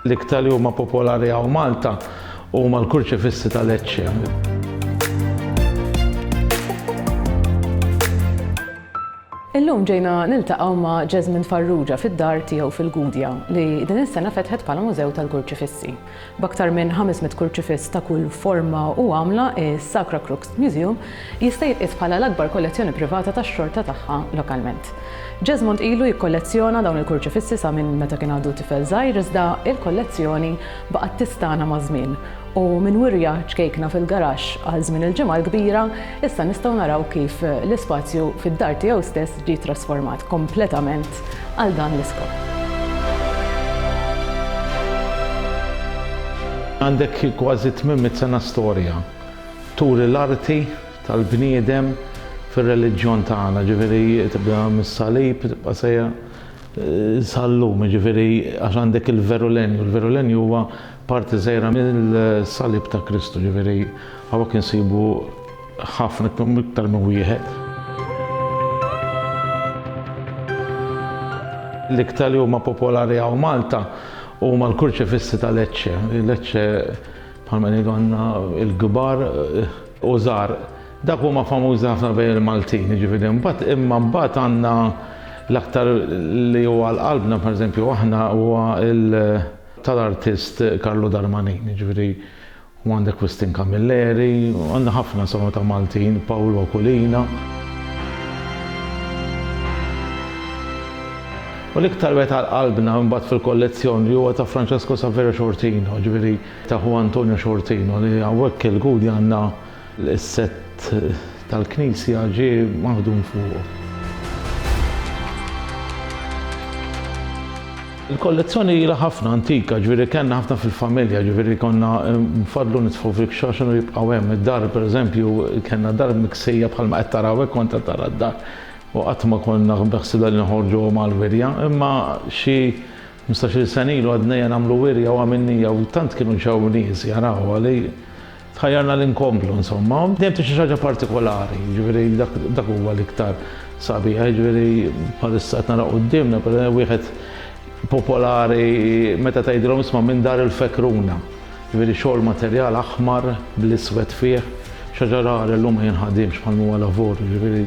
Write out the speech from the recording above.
L-iktar li huma popolari għaw Malta huma l-kurċifissi ta' Lecce. Illum ġejna niltaqgħu ma' Jasmine Farrugia fid-dar tiegħu fil-Gudja li din is-sena fetħet bħala mużew tal-kurċifissi. B'aktar minn 500 kurċifiss ta' kull forma u għamla, is-Sacra Crux Museum jista' jitqies bħala l-akbar kollezzjoni privata tax-xorta tagħha lokalment. Jesmond ilu jikkollezzjona dawn il-kurċifissi sa minn meta kien għadu tifel żgħir iżda l-kollezzjoni baqgħet tistagħna maż-żmien u minn wirja ċkejkna fil-garaxx għal żmien il-Ġimgħa l-Kbira issa nistgħu naraw kif l-ispazju fid-dar tiegħu stess ġie trasformat kompletament biss għal dan l-iskop. Għandek kważi tmien mitt sena storja turi l-arti tal-bniedem fir-reliġjon tagħna, jiġifieri tibda mis-salib tibqa' sejjer sal-lum, jiġifieri għax għandek il-verulenju, il-verulenju huwa parti żgħira mill-salib ta' Kristu, jiġifieri hawnhekk insibu Ħafna iktar minn wieħed. L-iktar li huma popolari hawn Malta huma l-kurċifissi ta' Lecce. Lecce bħalma ngħidu għandna l-kbar u żgħar. Dak huma famużi ħafna bejn il-Maltin, jiġifieri mbagħad imma mbagħad għandna l-aktar li huwa għal qalbna pereżempju aħna huwa tal-artist Carlo Darmanin, jiġifieri U għandek Christine Camilleri, u għandna ħafna insomma ta' Maltin, Paolo Oculina. U l-iktar wieħed għal qalbna mbagħad fil-kollezzjoni huwa ta' Francesco Saverio Sciortino, ġifieri ta' ħu Antonio Sciortino li hawnhekk il-Gudja għandna L-isett tal-knisja ġie maħdum fuqu. Il-kollezzjoni ilha ħafna antika, ġifieri kellna ħafna fil-familja, ġifieri konna nfaddlu nitfgħu fil-kxaxen u jibqgħu hemm. Id-dar pereżempju kellna dar miksejja bħalma qed taraw hekk kont qed tara d-dar u qatt ma konna beħsibna li noħorġuhom għall-wirja, imma xi ħmistax-il sena ilu għadnejja nagħmlu wirja u għamilnija u tant kienu ġew nies jaraw għali. Tħajjarna li nkomplu insomma. Dejjem tgħix xi ħaġa partikolari, jiġifieri dak dak huwa l-iktar sabiħ, jiġifieri bħalissa qed nara quddiemna per wieħed popolari meta tgħidilhom isma' minn dar il-Fekruna. Jiġifieri xogħol materjal aħmar bl-iswed fih, xi ħaġa rari llum ma jinħadiemx bħalma huwa lavur, jiġifieri